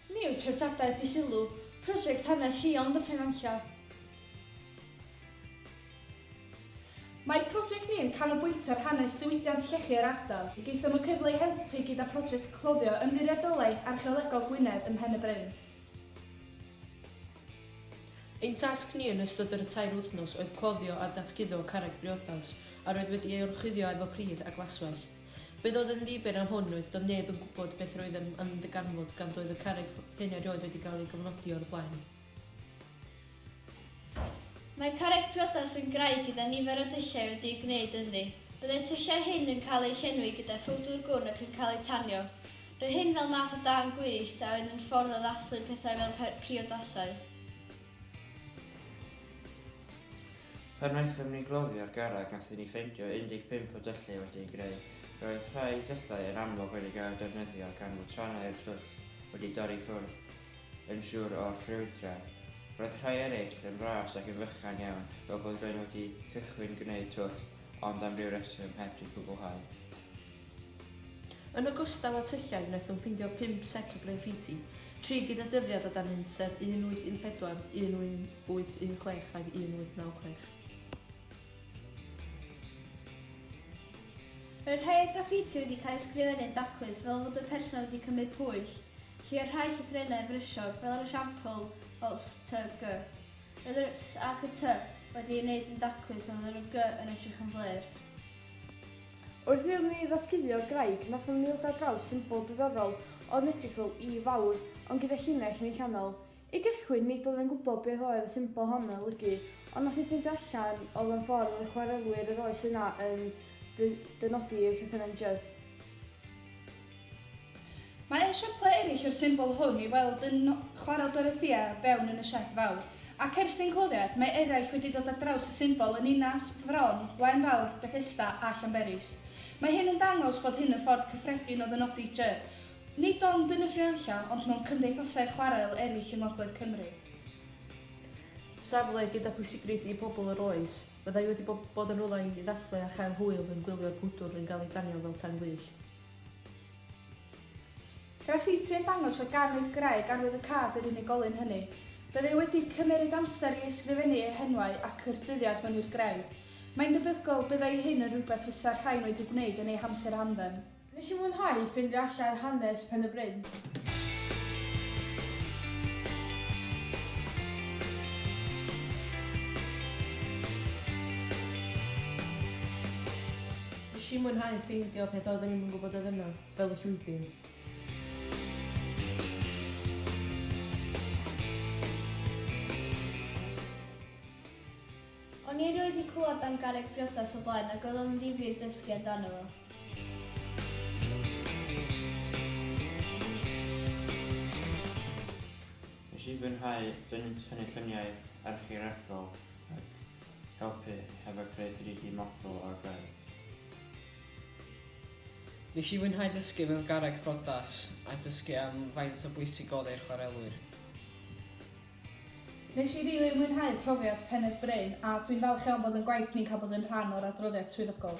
Ni yw treftadaeth di-sylw prosiect hanes lleol yn Dyffryn Nantlle. Mae prosiect ni yn canolbwyntio ar hanes diwydiant llechi yr ardal. Gaethom y cyfle i helpu gyda phrosiect cloddio Ymddiriedolaeth Archeolegol Gwynedd ym Mhen-y-bryn. Ein tasg ni yn ystod yr y tair wythnos oedd cloddio a datguddo carreg briodas a roedd wedi ei orchuddio efo pridd a glaswellt. Beth oedd yn ddibynn am hwn oedd doedd neb yn gwybod beth roedd yn ymddarganfod gan doedd y carreg hyn erioed wedi cael ei gofnodi o'r blaen. Mae carreg priodas yn graig gyda nifer o dulliau wedi'u gwneud ynddi. Byddai'r tyllau hyn yn cael eu llenwi gyda phowdwr gwn ac yn cael eu tanio. Roedd hyn fel math o dân gwyllt a oedd yn ffordd o ddathlu pethau fel priodasau. Pan wnaethom ni gloddio'r garreg nathon ni ffeindio 15 o dyllau wedi'u greu. Roedd rhai dyllau yn amlwg wedi cael eu defnyddio gan fod trannau'r twll wedi dorri ffwrdd yn siwr o'r ffrwydrau. Roedd rhai eraill yn fras ac yn fychan iawn fel bod rywun wedi cychwyn gwneud twll ond am ryw reswm heb 'di cwblhau. Yn ogystal â tyllau, wnaethom ffeindio pump set o graffiti, tri gyda dyddiad o dan un, sef 1814, 1816 ag 1896. Roedd rhai o'r graffiti wedi cael eu sgrifennu'n daclus fel fod y person wedi cymryd pwyll, lle oedd rhai llythrennau yn frysiog, fel yr esiampl o STG. Roedd yr S ac y T wedi eu gwneud yn daclus ond oedd yr Y yn edrych yn flêr. Wrth iddyn ni ddatguddio graig, nathon ni ddod ar draws symbol diddorol oedd yn edrych fel Y Fawr, ond gyda llinell yn ei chanol. I gychwyn, nid oedd e'n gwybod beth oedd y symbol hon yn olygu, ond nath hi ffeindio allan, oedd o'n ffordd oedd y chwarelwyr yr oes yna yn dynodi eu llythyren Jy. Mae ein siopau eraill yw'r symbol hwn i'w weld yn Chwarel Dorothea o fewn yn y sied fawr. Ac ers ein cloddiad, mae eraill wedi dod ar draws y symbol yn Ninas, Fron, Waun Fawr, Bethesda a Llanberis. Mae hyn yn dangos bod hyn y ffordd cyffredin o ddynodi jy, nid ond yn y Ffrianlla ond mewn cymdeithasau chwarel eraill yng ngogledd Cymru. Safle gyda phwysigrwydd i bobl yr oes, fyddai wedi bod yn rywle i ddathlu a chael hwyl yn gwylio'r gwydr yn cael ei danio fel tân gwyllt. Graffiti yn dangos fod gan y Graig arwydd y Cad yr unigolyn hynny. Bydd e wedi cymeryd amser i ysgrifennu eu henwau ac yr dyddiad hwn i'r Graig. Mae'n debygol byddai hyn yn rhywbeth fysa'r rhain wedi gwneud yn eu hamser hamdden. Nes i fwynhau ffindio allan hanes Pen-y-bryn. Nes i mwynhau ffeindio peth oeddwn i'm yn gwybod oedd yna, fel y llwybr. O'n i erioed 'di clywed am garreg priodas o blaen ac oedd o'n ddifyr dysgu amdano fo. Nes i fwynhau dynnu tynnu lluniau archeolegol ac Helpu hefo creu 3D model o gred. Nes i fwynhau dysgu mewn garreg brodas a dysgu am faint o bwysig odd e i'r chwarelwyr. Nes i rili mwynhau profiad Pen-y-bryn a dwi'n falch iawn bod yn gwaith ni'n cael bod yn rhan o'r adroddiad swyddogol.